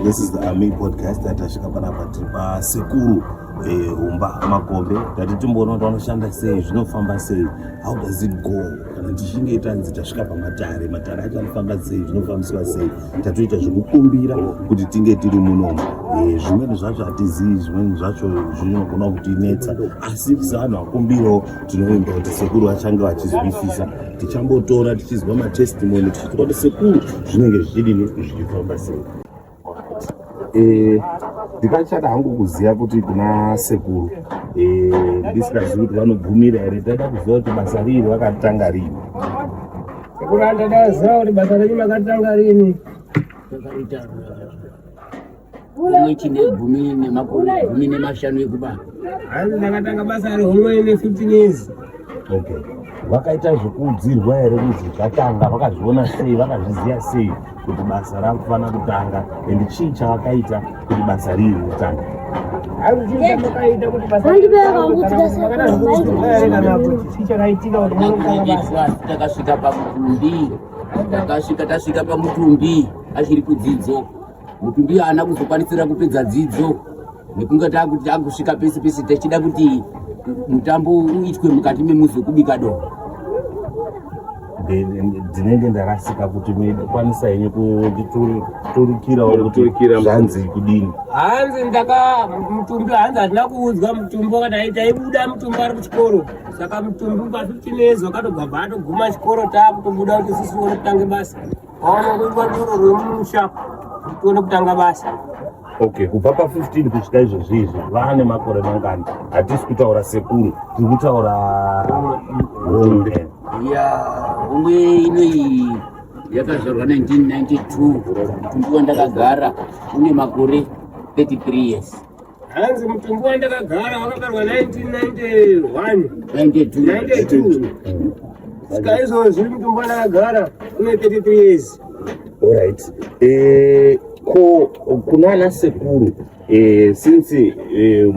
This is the Army podcast that tasvika panapa tiri pasekuru eh, humba makombe tati timboona kuti vanoshanda sei zvinofamba sei how does it go kana tichinge tanzi tasvika pamatare matare acho anofamba sei zvinofambiswa sei tatoita zvekukumbira kuti tinge tiri munomo eh, zvimweni zvacho hatizii zvimweni zvacho zvinogona kutinetsa asi sevanhu vakumbirawo tinoimba kuti sekuru vachange vachizwisisa tichambotora tichizwa matestimoni tichizwa kuti sekuru zvinenge zvichidini zvichifamba sei Eh, ndikachada hangu kuziva kuti kuna sekuru eh, ndisikazivi kuti vanobvumira here ndaida kuziva kuti basa riiri vakatanga rini sekuru andada ziva kuti basa renyu makatanga rini mweti negumi nemakore gumi nemashanu ekubana hanzi ndakatanga basa rehomwe ne 15 years okay vakaita zvekuudzirwa here kuti zvatanga vakazviona sei vakazviziva sei kuti basa rakufanira kutanga and chii chawakaita kuti basa riri kutanga takasvika pamutumbi takasvika tasvika pamutumbi achiri kudzidzo mutumbi haana kuzokwanisira kupedza dzidzo nekunge takuti takusvika pese pese tichida kuti mutambo uitwe mukati memuzi wekubika doro ndinenge ndarasika kuti mekwanisa henyu kunditurikirawo kutizvanzi kudini hanzi ndaka mutumbi hanzi hatina kuudzwa mutumbi wakadai taibuda mutumbi ari kuchikoro saka mutumbi pa 15 years wakatobva bva atoguma chikoro taakutobuda kuti sisi wonotange basa Waona kuitwa doro remusha tione kutanga basa. Okay, kubva pa 15 kusvika izvozvi izvi vane makore mangani? Hatisi kutaura sekuru, tiri kutaura hombe. Ya, hombe inoyi yakazvarwa 1992 kundiwa ndakagara une makore 33 years. hanzi mutumbi wandakagara wakabarwa 1991 saka izvozvi mutumbi wandakagara une 33 years olright eh, ko kuna ana sekuru eh, since eh,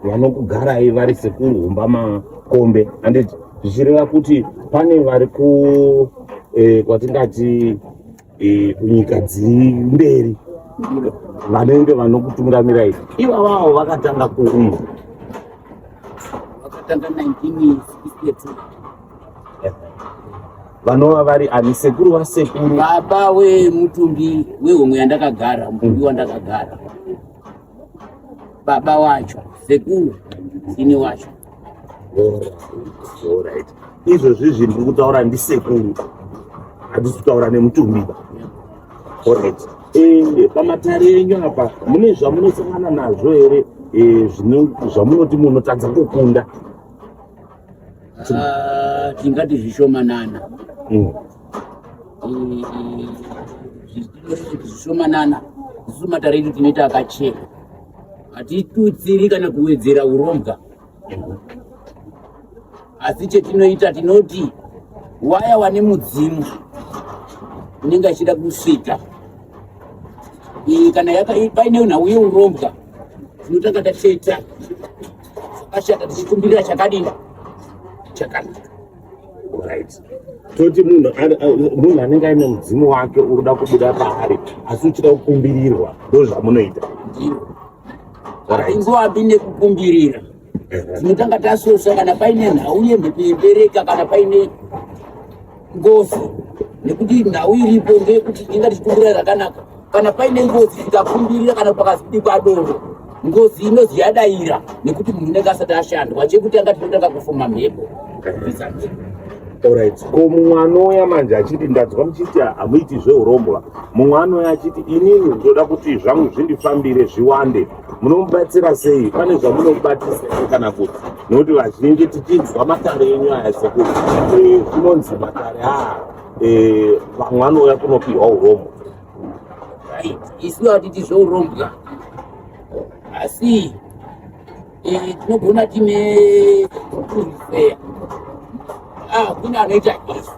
vanokugarai vari sekuru humba makombe anditi zvichireva kuti pane vari ku kwatingati e, kunyika dziri mberi vanenge vanokutungamirai ivavawo vakatanga kuumba vakatanga 1962 vanova vari ani sekuru vasekuru baba wemutumbi wehomwe yandakagara mutumbi wandakagara baba wacho sekuru ini wacho Alright. Izvozvi zvinhu ndiri kutaura ndisekuru. Handisi kutaura nemutumbiba. Alright. Eh, pamatare enyu apa mune zvamunosangana nazvo here eh, zvamunoti munotadza kukunda? Ah, tingati zvishomanana. Mm. Eh, zvishomanana. Isu matare edu tinoita akachena. hatitutsiri kana kuwedzera urombwa asi chetinoita tinoti waya wane mudzimu unenge achida kusvika kana paine nhau yeurombwa tinotanga tacheta zvakashata tichikumbirira chakadini chakanaka toti munhu munhu anenge aine mudzimu wake uri kuda kubuda paari asi uchida kukumbirirwa ndo zvamunoita ingoapi nekukumbirira tinotanga tasosa kana paine nhau yemhepo yebereka kana paine ngozi nekuti nhau iripo ndeyekuti inga tichikumbira rakanaka kana paine ngozi ikakumbirira kana pakazibikwa doro ngozi inozi yadaira nekuti munhu unenge asati ashandwa chekutanga tinotanga kufuma mhepo Alright. Ko mumwe anouya manje achiti ndanzwa muchiti hamuiti zveurombwa. Mumwe anouya achiti inini ndoda kuti zvangu zvindifambire zviwande. Munomubatsira sei? Pane zvamunomubatisa kana kuti nokuti vazhinji tichinzwa matare enyu aya sekuti zvinonzi matare aya eh, vamwe vanouya kunopihwa urombo isu hatiti zvourombwa asi eh, tinogona tine kuruseya ah, kune anoita izvi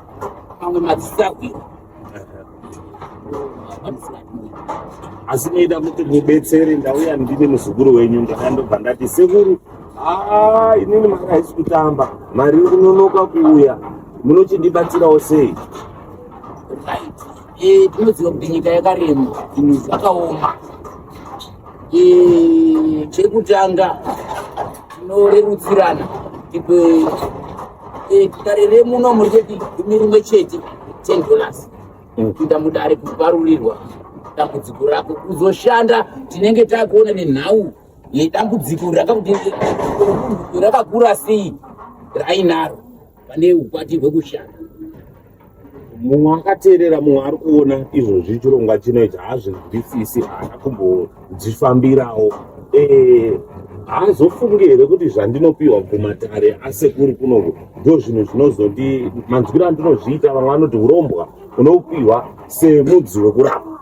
mamwe madzisahwira asi maida kuti mubetsere ndauya ndine muzukuru wenyu ndakandobva ndati sekuru Ah, inini mari haisi kutamba mari ikunonoka kuuya munochindibatsirawo sei eh, tinoziva kuti nyika yakarema zvinhu zvakaoma eh, chekutanga tinorerutsirana ipe eh, dare remuno muri cheti gumi rimwe chete ten dollars mm. kuita mudare kuparurirwa dambudziko rako kuzoshanda tinenge takuona nenhau yedambudziko rakakuti rakakura sei rainaro pane ukwati hwekushanda mumwe akateerera mumwe ari kuona izvozvi chirongwa chino ichi haazvinzwisisi haana kumbodzifambirawo eh, haazofungi here kuti zvandinopiwa kumatare asekuri kunoku ndo zvinhu zvinozoti manzwiro andinozviita vamwe vanoti urombwa unopiwa semudzi wekurapa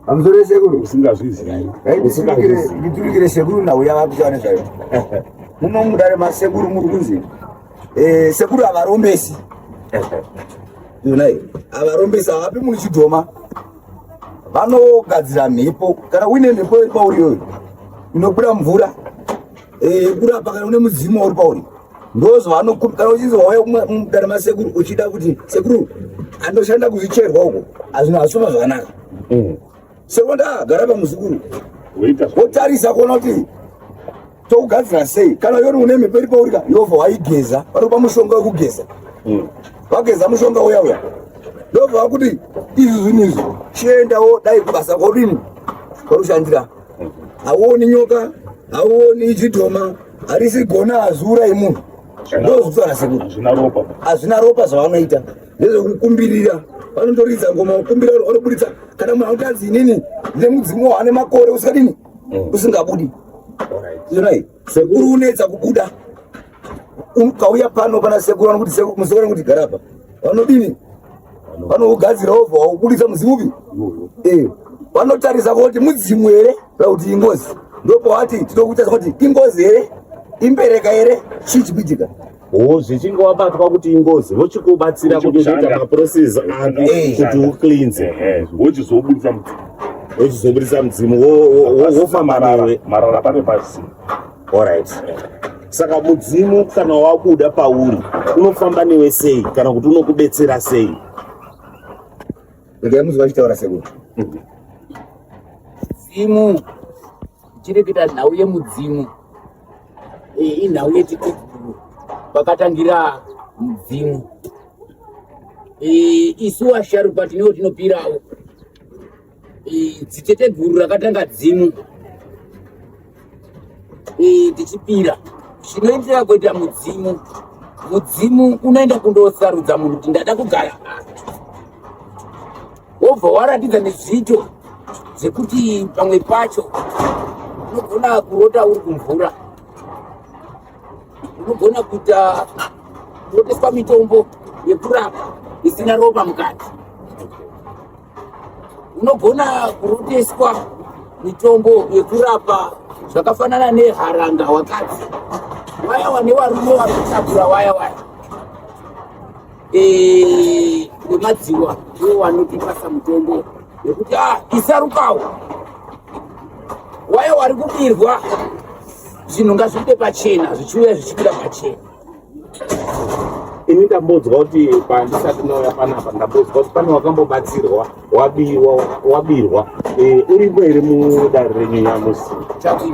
Amzore sekuru usingazvizivi. Eh, usingazvizivi. Nditurikire sekuru na uya vakuti wane zvayo. Muno mudare ma sekuru muri kunzi. Eh sekuru avarombesi. Yonai avarombesi avapi muri chidhoma. Vanogadzira mhepo kana uine mhepo iri pauri yoyo. Inobuda mvura. Eh, kurapa kana une mudzimu wauri pauri ndozvaanokupa kana uchinzi wauya mudare masekuru uchida kuti sekuru andoshanda kuzvicherwa uko azvino hazvifamba zvakanaka mm. sekuru ndagara pamuzukuru wotarisa kuona kuti tokugadzira sei kana yori une mhepo iri paurika ndobva waigeza vanokupa mushonga wekugeza mm. vageza mushonga uya uya ndobva vakuti izvi zvinhu izvi chiendawo dai kubasa kodini kwarushandira hauoni nyoka hauoni chidhoma harisi gona hazura yemunhu ndozvitsvana sekuru hazvina ropa zvavanoita nezvekukumbirira vanotoridza ngoma kukumbira vanoburitsa kana munhu anotanzi inini nemudzimu waane makore usikadini mm. usingabudi You're right. Sekuru unetsa kubuda. Ukauya pano pana sekuru anokuti sekuru musekuru anokuti gara pa. Vanodini? Vanougadzira ovha waubudisa mudzimu upi? Eh. Vanotarisa kuti mudzimu here kana kuti ingozi. Ndipo wati tinokuita kuti ingozi here? Imbereka here? Chii chikuitika? wo zvichinge wabatwa kuti ingozi vochikubatsira kuti uzoita maprocess api kuti ucleanse wochizobudisa mudzimu wochizobudisa mudzimu wofamba nawe marara pane pasi allright saka mudzimu kana wabuda pauri unofamba newe sei kana kuti unokubetsera sei ndaimuziva chitaura sekuti mudzimu Tiri kuita nhau yemudzimu. Iyi inhau yechitedzero pakatangira mudzimu. Isu vasharukwa tinewo tinopirawo. Dzitete guru rakatanga dzimu tichipira zvinoenderera kuita mudzimu. Mudzimu unoenda kundosarudza munhu kuti ndada kugara wobva waratidza nezviito zvekuti pamwe pacho unogona kurota uri kumvura unogona kuita kuroteswa mitombo yekurapa isina ropa mukati unogona kuroteswa mitombo yekurapa zvakafanana neharanga wakadzi waya wane varume vari kutakura waya waya eh, nemadziwa ndiwo wanotipasa mutombo nekuti a ah, isarukawo waye wari kubirwa zvinhu ngazvibude pachena zvichiuya zvichibuda pachena ini ndambonzwa kuti pandisati nauya panapa ndambonzwa kuti pane wakambobatsirwa wabirwa wabirwa eh, uripo here mudare renyu nyamusi chakii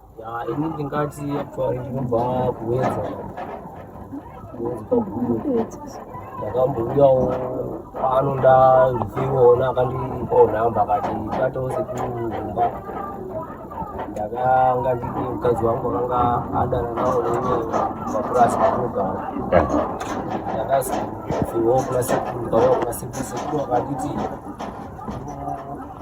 ya ini ndingati actually ndinobva kuwedza ndakambouyawo pano ndazviona akandipawo nhamba akati batawo sekumumba ndakanga ndine mukadzi wangu akanga adana nawo nemapurasi atinogara ndakazivawo kuna sekuru ndikauya kuna sekuru sekuru akanditi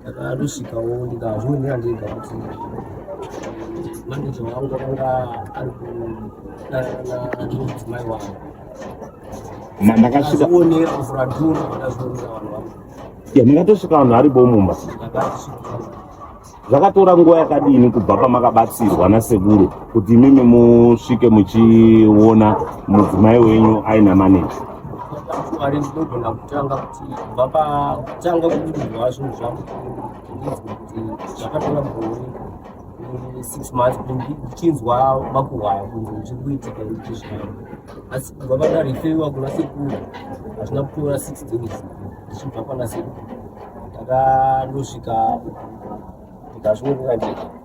ndakadosvikawo ndikazvionera ndega kuti maneja wangu akanga ari kudanana nemudzimai wangu mandakasvikaonera kufuradhura ndazvionera vanhu vangu makatosvika vanhu ari bomumba zvakatora nguva yakadini kubva pamakabatsirwa nasekuru kuti imimi musvike muchiona mudzimai wenyu aina maneja kubva patanga kuudzwa zvinhu zvangu ndinzwa kuti zvakatora mugore six months kuti ndichinzwa makuhwaya kunzi zvichiri kuitika ndichi zvavo asi kubva pandarefewa kuna sekuru hazvina kutora six days ndichibva pana sekuru ndakandosvika ndikazviongera ndega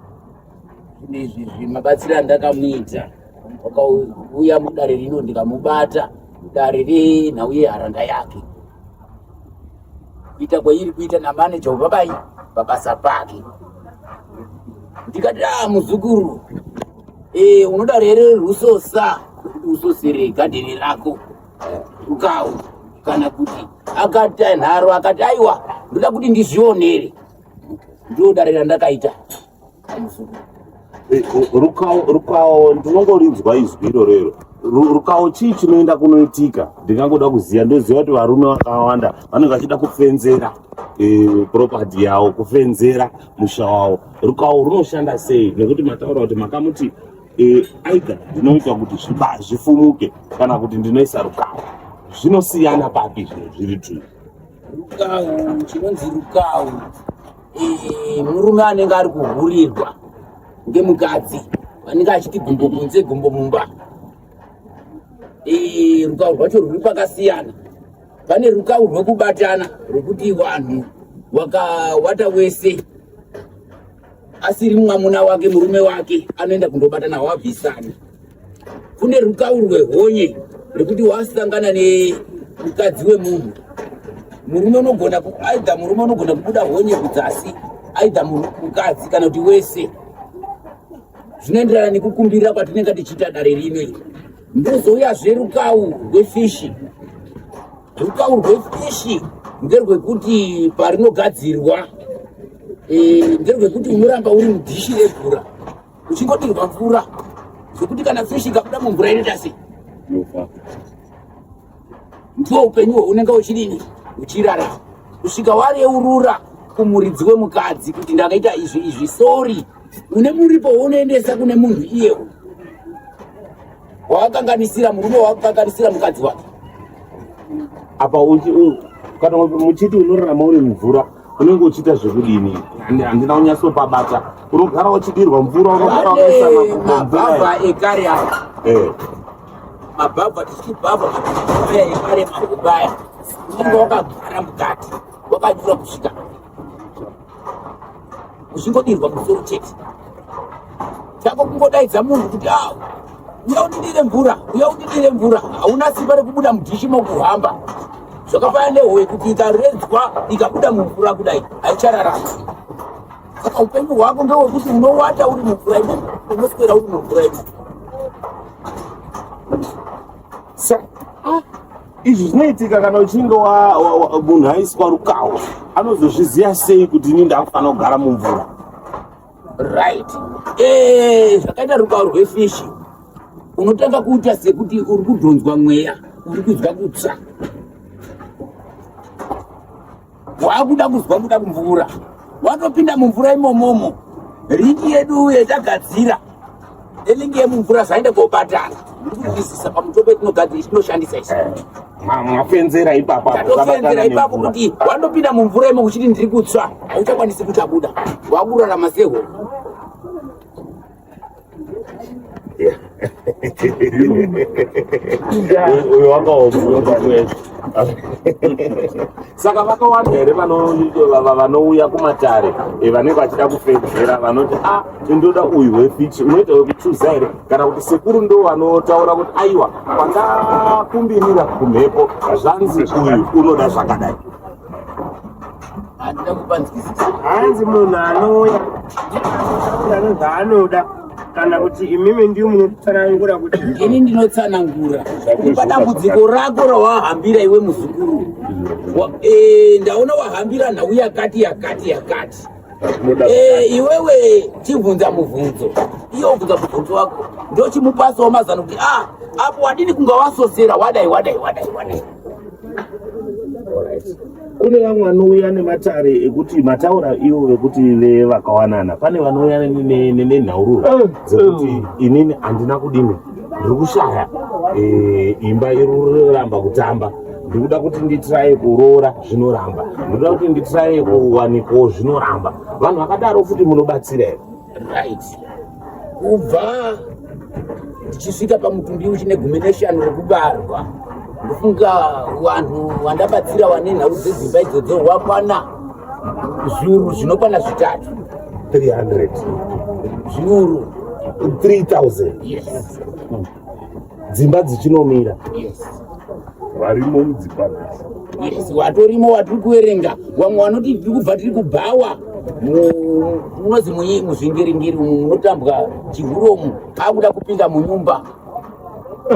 zvinhu izvi izvi mabatsiro andakamuita wakauya mudare rino ndikamubata mudare renhau yeharanga yake kuita kwairi kuita namaneja webabai pabasa pake ndikati a muzukuru e, unoda rere rusosa kuti usosere gadheni rako rukawu kana kuti akati ainharo akati aiwa ndoda kuti ndizvionere ndodare randakaita eh, rukawo ndinongorinzwa izwi iroro iro rukawo chii chinoenda kunoitika ndingangoda kuziva ndoziva kuti varume vakawanda vanenge vachida kufenzera eh, propati yavo kufenzera musha wavo rukawo runoshanda sei nekuti mataura kuti makamuti eh, aida ndinoita kuti zvifumuke kana kuti ndinoisa rukawo zvinosiyana papi zvino zviri tuu rukawu chinonzi rukawu eh, murume anenge ari kuhurirwa ngemukadzi anenge achiti gumbo kunze gumbo mumba eh, rukawu rwacho rwuri pakasiyana pane rukawu rwekubatana rwekuti vanhu wakawata wese asiri mwamuna wake murume wake anoenda kundobata nawo abvisana kune rukawu rwehonye rekuti wasangana nemukadzi wemunhu murume unogona aidha murume unogona kubuda honye kudzasi aidha mukadzi kana kuti wese zvinoenderana nekukumbirira kwatinenge tichiita dare rino iri ndozouyazve rukawu rwefishi Rutauro rwefishi nderwekuti parinogadzirwa e, nderwekuti unoramba uri mudhishi remvura uchingodirwa mvura zvekuti kana fishi ikabuda mumvura inoita sei ndiwo upenyu hwaunenge uchidini uchirarama kusvika wareurura kumuridzi wemukadzi kuti ndakaita izvi izvi sori une muripo wounoendesa kune munhu iyewo wawakanganisira murume wawakukanganisira mukadzi wake apa kana muchiti unorarama uri mvura unenge uchiita zvekudini handina unyatsopabata unogara uchidirwa mvura unogaramabhabha ekare aya eh. mabhabha tichibhabha maaya ekare makubaya unenge wakagara mukati wakanyura kusvika zvingodirwa musoro chete chako kungodaidza munhu kuti a uya undidire mvura uya undidire mvura hauna simba rekubuda mudhishi mokuhamba zvakafanana nehowe kuti ikaredzwa ikabuda mumvura kudai haichararama saka upenyu hwako ndewekuti unowata uri mumvura imo unoswera uri mumvura imo Izvi zvinoitika kana uchinge munhu aiswa rukawo anozozviziva sei kuti ini ndakufanira kugara mumvura right eh, zvakaita rukawo rwefishi unotanga kuita sekuti uri kudhonzwa mweya uri kunzwa kutsva wakuda kuzwa kuda kumvura watopinda mumvura imomomo ringi yedu uye tagadzira elingi yemumvura zvaenda kobatana ndikuisisa pamutombo yetinogadzira tinoshandisa isi eh, mwapenzera ipapotopenzera ipapo kuti wandopinda mumvura imo kuchiti ndiri kutswa hauchakwanisi kutabuda wakurarama sehoo uyo wakaomuoakuweza saka vakawanda here vanouya kumatare eh, vanenge vachida kufedzera vanoti a ah, ndoda uyu wefichi unoita wekuchuza here kana kuti sekuru ndo vanotaura kuti aiwa kwakakumbirira kumhepo zvanzi uyu unoda zvakadai handina kupanzwisisa hanzi munhu anouya ndinotaura zvaanoda kana kuti imimi ndiyo munotsanangura kuti ini ndinotsanangura kupa dambudziko rako rawahambira iwe muzukuru e, ndaona wahambira nhau yakati yakati yakati e, iwewe chibvunza mubvunzo iyo ubvunza mubvunzo wako ndochimupasawo mazano kuti a ah, apo wadini kunga wasosera wadai wadai wadai wadai kune vamwe vanouya nematare ekuti mataura ivo vekuti vevakawanana pane vanouya nenhaururo eh, eh. dzekuti inini handina kudini ndiri kushaya eh, imba iruramba kutamba ndikuda kuti nditiraye kuroora zvinoramba ndikuda kuti nditiraye kuwanikawo zvinoramba vanhu vakadaro futi munobatsira here right kubva tichisvika pamutumbi uchine gumi neshanu rekubarwa ndofunga vanhu vandabatsira vane nhau dzedzimba idzodzo wakwana zviuru zvinokwana zvitatu 300 zviuru 3000 yes. dzimba dzichinomira varimo mudzimba yes watorimo watiri kuverenga vamwe vanoti tiri kubva tiri kubhawa munozi muyi muzvingiringiri umu munotambwa chihuromu akuda kupinda munyumba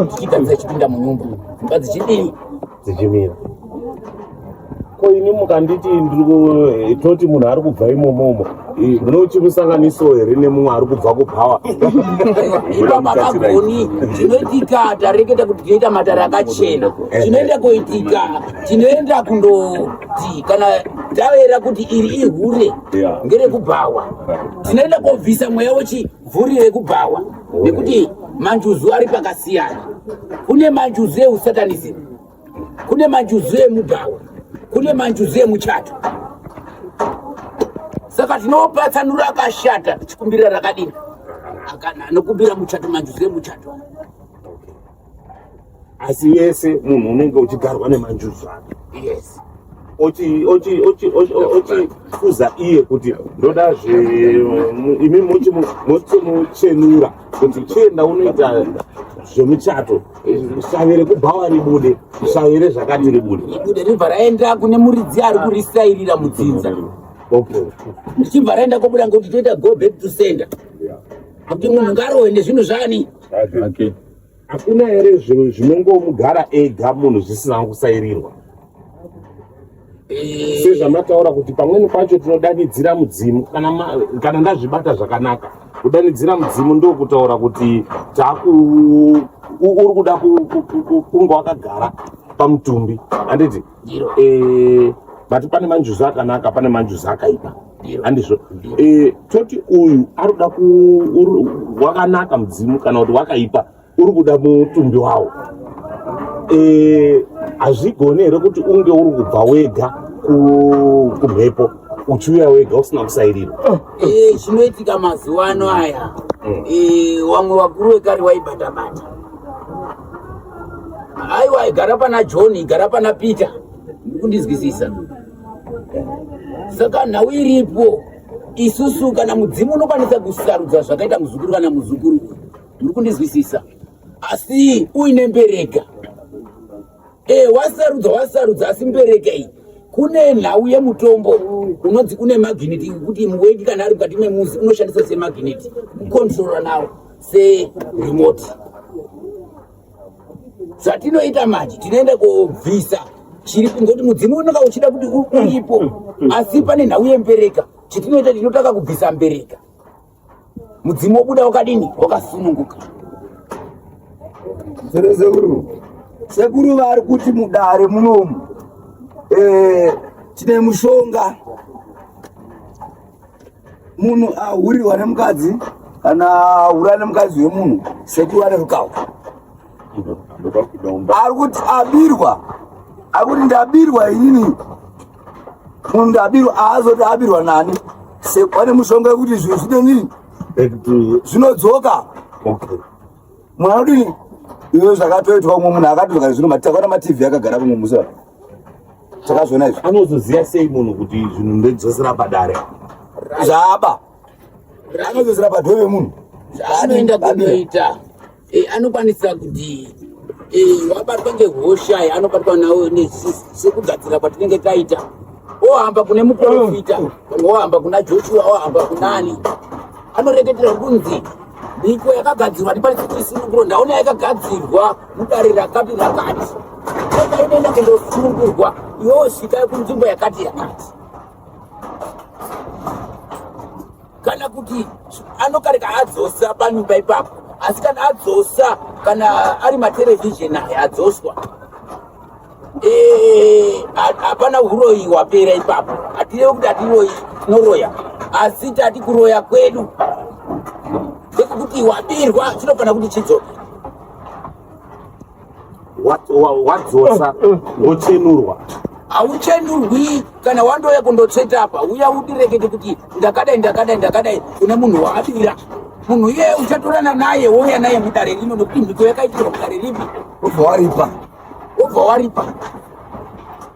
tichigadzira chipinda munyumba dzimba dzichidii dzichimira ko ini mukanditi eh, toti munhu ari kubva imomomo eh, munochimusanganiso here nemumwe ari kubva kubhawa ipa makagoni tinoitika tareketa kuti tinoita matare akachena eh, tinoenda koitika tinoenda kundoti kana tavera kuti iri ihure ngerekubhawa tinoenda kobvisa mweya wechivhuri rekubhawa nekuti manjuzu ari pakasiyana kune manjuzu eusatanism kune manjuzu emubhawa kune manjuzu emuchato saka tinopatsanura akashata tichikumbira rakadini anokumbira muchato manjuzu emuchato asi yese munhu unenge uchigarwa nemanjuzu ake yes ochiuza iye kuti ndoda zveimi mochimuchenura kuti chienda unoita zvemuchato shavi rekubhawa ribude shavi rezvakati ribude ibude ribva raenda kune muridzi ari kurisairira mudzinza ndichibva raenda kobuda ngokuti toita go back to center kuti munhu ngarowe nezvinhu zvani zvake hakuna here zvinhu zvinongomugara ega munhu zvisina kusairirwa eh. sezvamataura kuti pamweni pacho tinodanidzira mudzimu kana ndazvibata zvakanaka kudanidzira mudzimu ndokutaura kuti uri kuda kunge wakagara pamutumbi handiti ndiro eh but pane manjuza akanaka pane manjuza akaipa handizvo eh toti uyu aruda ku wakanaka mudzimu kana kuti wakaipa uri kuda mutumbi wawo eh hazvigone here kuti unge uri kubva wega kumhepo uchiuya wega usina kusairirwa oh. eh, zvinoitika mazuva ano aya mm. eh, wamwe vakuru vekare waibatabata aiwa igara pana john igara pana peter ndikundizwisisa saka nhau iripo isusu kana mudzimu unokwanisa kusarudza zvakaita muzukuru kana muzukuru muri kundizwisisa asi uine mbereka e wasarudza wasarudza asi mbereka iyi kune nhau yemutombo unonzi une magineti kuti muwendi kana ari mukati memuzi unoshandisa semagineti kukontrora nawo serimoti zvatinoita manje tinoenda kobvisa chiri kungoti mudzimu unonga uchida kuti uripo asi pane nhau yembereka chitinoita tinotanga kubvisa mbereka mudzimu wobuda wakadini wakasununguka sekuru sekuru vari kuti mudare munomu eh, tine mushonga munhu ahurirwa ah, nemukadzi kana ahura ah, nemukadzi wemunhu sekuru ane rukawo ari kuti abirwa ari kuti ndabirwa inini munhu ndabirwa aazoti abirwa nani pane mushonga wekuti zvinhu zvine nini zvinodzoka munhu anodini iwe zvakatoitwa umwe munhu akatoka zvino matakwana matv akagara kumwe musi takazviona izvi anozoziva sei munhu kuti zvinhu ndodzosera padare zvaaba anozodzera padwe vemunhu anoenda kunoita eh, anokwanisa kuti eh, wabatwa ngehosha eh, anobatwa nawo sekugadzira kwatinenge taita ohamba kune muprofita ohamba kuna joshua ohamba kunani anoreketera kunzi mhiko yakagadzirwa ndipanisikisini kuronda ona yakagadzirwa mudare rakati rakati akainenda kundosungurwa yosvika kunzvimbo yakati yakati kana kuti anokareka adzosa panyumba ipapo asi kana adzosa kana ari matelevhizheni ayo adzoswa eh, hapana uroyi hwapera ipapo hatirevi kuti hatiroyi tinoroya asi tati kuroya kwedu ndekuti wabirwa chinofanira kuti chidzoke wadzosa wochenurwa hauchenurwi kana wandouya kundotseta apa uya udirekete kuti ndakadai ndakadai ndakadai kune munhu waadira munhu iyeye uchatorana naye wouya naye mudare rino nokuti mhiko yakaitirwa mudare ripi ubva waripa ubva waripa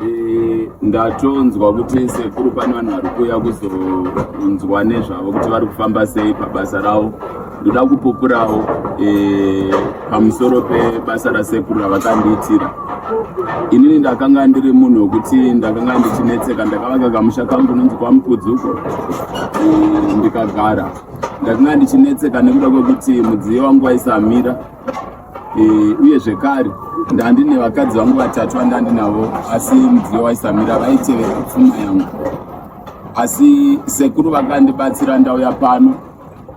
Eh, ndatonzwa kuti sekuru pane vanhu vari kuuya kuzonzwa nezvavo kuti vari kufamba sei pabasa ravo ndoda kupupurawo eh, pamusoro pebasa rasekuru ravakandiitira inini ndakanga ndiri munhu wekuti ndakanga ndichinetseka ndakavaka kamusha kangu nonzi kwamukudzuko eh, ndikagara ndakanga ndichinetseka nekuda kwekuti mudziyo wangu waisamira Eh, uye zvekare ndandine vakadzi vangu vatatu vandandinavo asi mudziyo waisamira vaitevera pfuma yangu asi sekuru vakandibatsira ndauya pano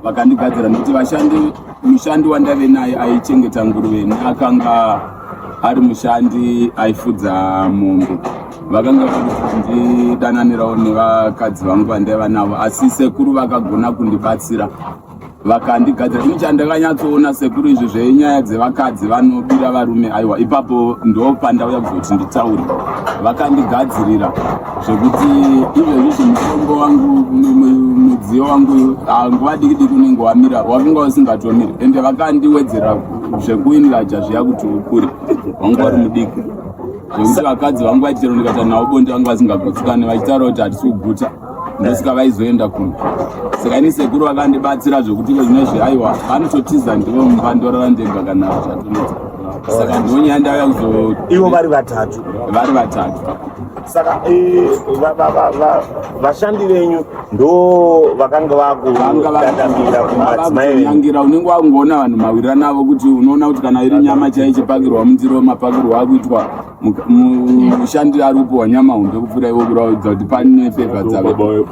vakandigadzira nekuti vashandi mushandi wandave naye aichengeta nguruve neakanga ari mushandi aifudza mombe vakanga vakandidananirawo nevakadzi vangu vandaiva navo asi sekuru vakagona kundibatsira vakandigadzira ini chandakanyatsoona sekuru izvi zvenyaya dzevakadzi vanobira varume aiwa ipapo ndopandauya kuzoti nditaure vakandigadzirira zvekuti izvezvizvi mutombo wangu mudziyo wangu nguva diki diki unenge wamira wakunga usingatomiri ende vakandiwedzera zvekuiniraja zviya kuti ukure wanga wari mudiki zvekuti vakadzi vangu vaitero ndikata navo bonde vangu vasingagutsikane vachitaura kuti hatisi kuguta ndosika vaizoenda kuno saka ini sekuru vakandibatsira zvekuti ko zvino zveaiwa vanototiza ndivo mumba ndorara ndega kana zvatoneta saka ndonyaya ndauya kuzo ivo vari vatatu vari vatatu saka eh, vashandi venyu ndo vakanga vakuangira kumadzimaiangira unenge wakungoona vanhu mawirira navo kuti unoona kuti kana iri nyama chaichipakirwa mundiro mapakirwa akuitwa mushandiro ari kupiwa nyama hunde kupfuura ivo kuraudza kuti pane pepa dzavo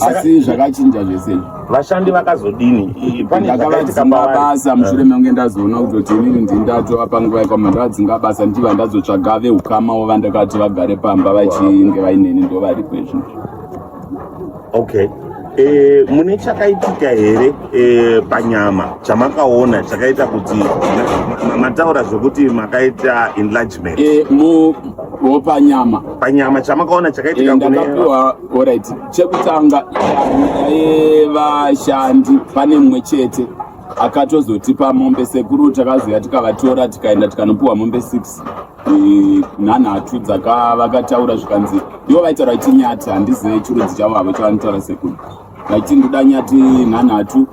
asi zvakachinja zvese vashandi vakazodini ndakavadzinga basa mushure menge ndazoona kutoti inini ndii ndatova panguva yekwa mandavadzinga basa ndichiva ndazotsvaga veukama wo vandakati vagare pamba vachinge vaineni ndo varipo izvozvo okay e, mune chakaitika here e, panyama chamakaona chakaita kuti mataura zvekuti makaita enlargement e, mu, mu, panyama panyama chamakaona chakaitika e, ndakapiwa orit chekutanga yaye vashandi pane mumwe chete akatozotipa mombe sekuru takazoya tikavatora tikaenda tikanopiwa mombe 6 nhanhatu dzakavakataura zvikanzi ndivo vaitaura kuti nyati handizive chirudzi chavo havo chavanotaura sekuru vaiti ndoda nyati nhanhatu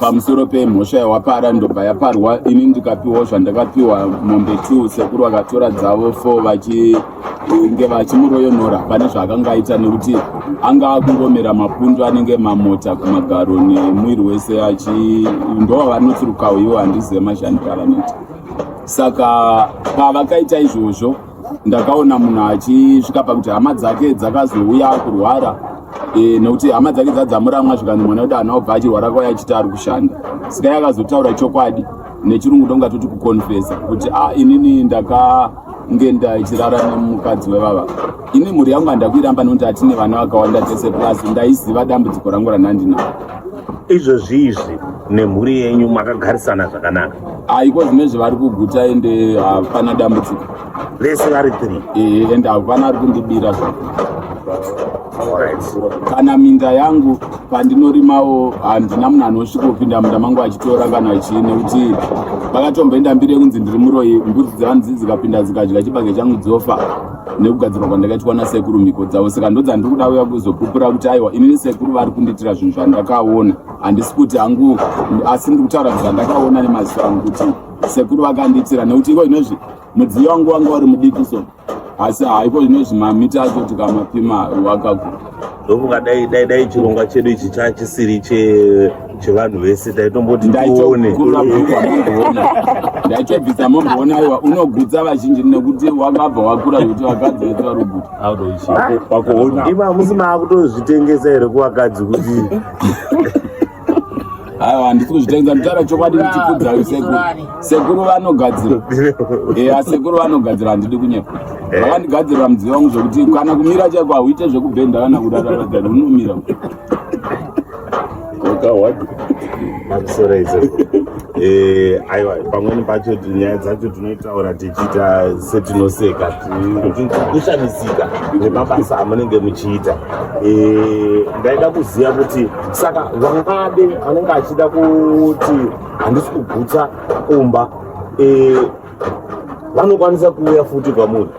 pamusoro pemhosva yawapara ndobva yaparwa ini ndikapiwawo zvandakapiwa mombe two sekuru vakatora dzavo four vachinge vachimuroyonora pane zvaakanga aita nekuti anga akungomera mapundu anenge mamota kumagaro nemwiri wese achi ndovavanotsirukawo ivo handizive mashandiro avanoita saka pavakaita izvozvo ndakaona munhu achisvika pakuti hama dzake dzakazouya kurwara e, nekuti hama dzake dzadzamuramwa zvikanzi mwana wedu hana obva achirwara kwai achiti ari kushanda sika yakazotaura chokwadi nechirungu ndonga toti kuconfesa kuti a ah, inini ndaka nge ndaichirara nemukadzi wevava ini mhuri yangu handakuiramba nekuti hatine vana vakawanda tese plus ndaiziva dambudziko rangu randandinaro izvozvi izvi nemhuri yenyu makagarisana zvakanaka haiko zvine zvavari kuguta ende hapana dambudziko vese vari three ee ende hapana ari kundibira zva kana minda yangu pandinorimawo handina munhu anosvikopinda munda mangu achitora kana chii nekuti vakatomboenda mbiri yekunzi ndiri muroyi mbudzi dzevanhu dzii dzikapinda dzikadya chibage changu dzofa nekugadzirwa kwandakaitwa nasekuru mhiko dzavo saka ndodzandiri kuda uya kuzopupura kuti aiwa inini sekuru vari kundiitira zvinhu zvandakaona handisi kuti hangu asi ndiri kutaura zvandakaona nemaziso angu kuti sekuru vakandiitira nekuti iko inozvi mudziyo wangu wanga wari mudiki so asi haiko inozvi mamita acho tikamapima wakakura ndofunga dai dai dai chirongwa chedu ichi chachisiri chevanhu vese taitomboti tione ndaitobvisa momboona aiwa unogutsa vazhinji nekuti wakabva wakura kuti vakadzi vese vari kuguta iva musi maakutozvitengesa here kuvakadzi kuti aiwa handisi kuzvitengesa nditaura chokwadi ndichikudza uyu sekuru sekuru vanogadzira eya sekuru vanogadzira handidi kunyepa eh. vakandigadzirira mudziyo wangu zvekuti kana kumira chaiko hauite zvekubhenda kana kudadadada unomira eh, aiwa pamweni pacho nyaya dzacho tinoitaura tichiita setinoseka kushamisika nemabasa amunenge muchiita eh, ndaida kuziva kuti saka vamwe ade anenge achida kuti handisi kugutsa kumba eh, vanokwanisa kuuya futi kwamuri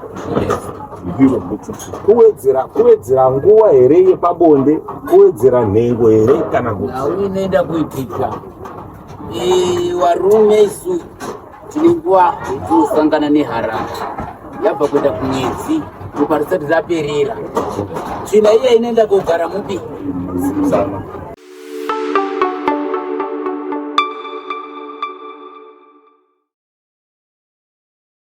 kuwedzera kuwedzera nguva here yepabonde kuwedzera nhengo here kana kuti inoenda kuitika eh, varume isu Tine nguva tinosangana neharanga yabva kuenda kumwedzi ropa risati raperera tsvina iya inoenda kogara mupi